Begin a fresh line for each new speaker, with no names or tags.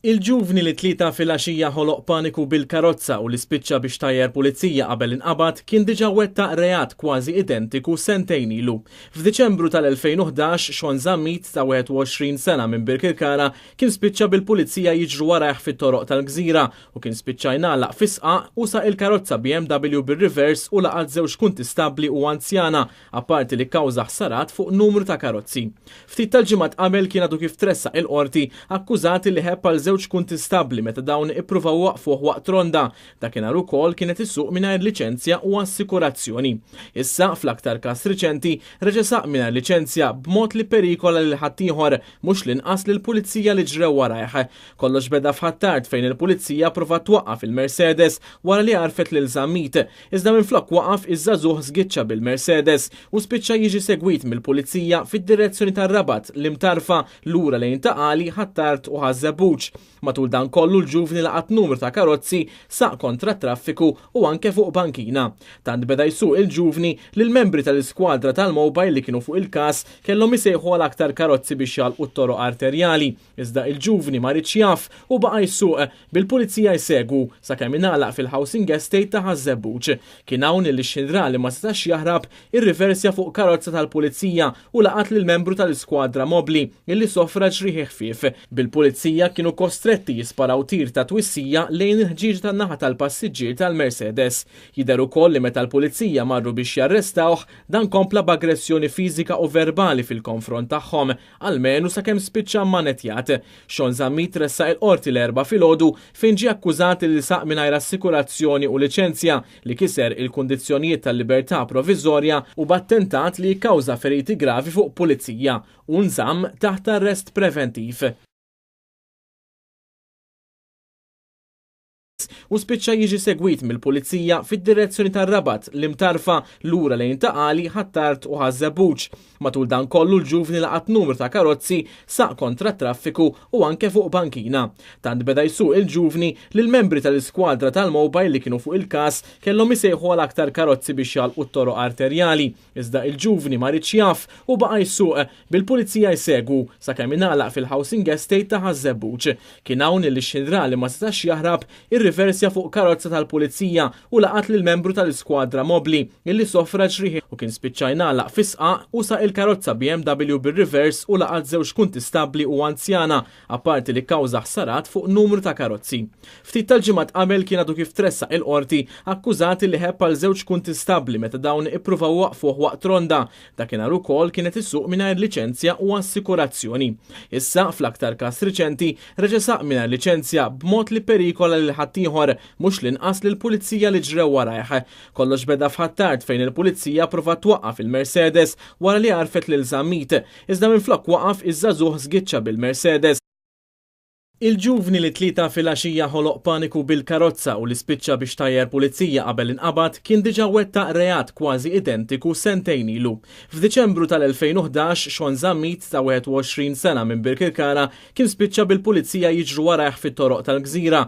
Il-ġuvni li t-Tlieta filgħaxija ħoloq paniku bil-karozza u li spiċċa biex tajjar pulizija qabel inqabad kien diġà wettaq reat kważi identiku sentejn ilu. F'Diċembru tal-2011 Shawn Zammit ta' 21 sena minn Birkirkara kien spiċċa bil-pulizija jiġru warajh fit-toroq tal-Gżira u kien spiċċa jngħalaq fi sqaq u saq il-karozza BMW bir-rivers u laqat żewġ kuntistabbli u anzjana apparti li kkawża ħsarat fuq numru ta' karozzi. Ftit tal-ġimgħat qabel kien għadu kif tressaq il-Qorti akkużati li ħebb għal żewġ kuntistabbli meta dawn ippruvaw iwaqqfuh waqt ronda, dakinhar ukoll kien qed isuq mingħajr liċenzja u assikurazzjoni. Issa, fl-aktar każ riċenti, reġa' saq mingħajr liċenzja b'mod li pperikola lil ħaddieħor, mhux l-inqas lill-Pulizija li ġrew warajh. Kollox beda f'Ħ'Attard fejn il-Pulizija pprovat twaqqaf il-Mercedes wara li għarfet lil Zammit, Iżda minflok waqaf iż-żagħżugħ żgiċċa bil-Mercedes u spiċċa jiġi segwit mill-Pulizija fid-direzzjoni tar-Rabat, l-Imtarfa, lura lejn Ta' Qali, Ħ'Attard u Ħaż-Żebbuġ. Matul dan kollu l-ġuvni laqat numru ta' karozzi, saq kontra t-traffiku u anke fuq bankina. Tant beda jsuq il-ġuvni li l-membri tal-iskwadra tal-mobile li kienu fuq il-każ kellhom isejħu għal aktar karozzi biex jagħlqu t-toroq arterjali, iżda il-ġuvni ma riedx jaf u baqa' jsuq. bil-Pulizija jsegwu sakemm ingħalaq fil-Housing Estate ta' Ħaż-Żebbuġ. Kien hawn li Xinrà li ma setax jaħrab irriversja fuq karozza tal-Pulizija u laqat lil membru tal-iskwadra mobbli li sofra ġrieħi ħfief, bil-Pulizija kienu kostretti jisparaw tir ta' twissija lejn il-ħġieġa tan-naħa tal-passiġġier tal-Mercedes. Jidher ukoll li meta l-Pulizija marru biex jarrestawh, dan kompla b'aggressjoni fiżika u verbali fil-konfront tagħhom. almenu sakemm spiċċa mmanetjat. Shawn Zammit tressaq il-Qorti l-Erbgħa filgħodu fejn ġie akkużat li saq mingħajr assikurazzjoni u liċenzja, li kiser il-kundizzjonijiet tal-libertà proviżorja, u b'attentat li kkawża feriti gravi fuq pulizija, u nżamm taħt arrest preventiv. u spiċċa jiġi segwit mill-Pulizija fid-direzzjoni tar-Rabat, l-Imtarfa, lura lejn Ta' Qali, Ħ'Attard u Ħaż-Żebbuġ. Matul dan kollu l-ġuvni laqat numru ta' karozzi, saq kontra t-traffiku u anke fuq bankina. Tant beda jsuq il-ġuvni li l-membri tal-iskwadra tal-mobile li kienu fuq il-każ kellhom isejħu għal aktar karozzi biex jagħlqu t-toroq arterjali. Iżda il-ġuvni ma riedx jaf u baqa' jsuq, bil-pulizija jsegwu, sakemm ingħalaq fil-housing estate ta' Ħaż-Żebbuġ. Kien hawn li x-xinra li ma setax jaħrab, irriversja fuq karozza tal-pulizija u laqat lil membru tal-iskwadra mobbli illi sofra ġrieħi u kien spiċċa jingħalaq fis-sqaq u saq il-karozza BMW bir-rivers u laqat żewġ kuntistabbli u anzjana apparti li kkawża ħsarat fuq numru ta' karozzi. Ftit tal-ġimgħat qabel kien għadu kif tressaq il-Qorti akkużati li ħebb għal żewġ kuntistabbli meta dawn ippruvaw iwaqqfuh waqt ronda, dakinhar ukoll kien qed isuq mingħajr liċenzja u assikurazzjoni. Issa, fl-aktar każ riċenti, reġa' saq mingħajr liċenzja b'mod li pperikola lil ħaddieħor, mhux l-inqas lill-Pulizija li ġrew warajh. Kollox beda f'Ħ'Attard fejn il-Pulizija pprovat twaqqaf il-Mercedes wara li għarfet lil Zammit, Iżda minflok waqaf iż-żagħżugħ żgiċċa bil-Mercedes. Il-ġuvni li t-Tlieta filgħaxija ħoloq paniku bil-karozza u li spiċċa biex tajjar pulizija qabel inqabad kien diġà wettaq reat kważi identiku sentejn ilu. F'Diċembru tal-2011, Shawn Zammit, ta' 21 sena minn Birkirkara, kien spiċċa bil-pulizija jiġru warajh fit-toroq tal-Gżira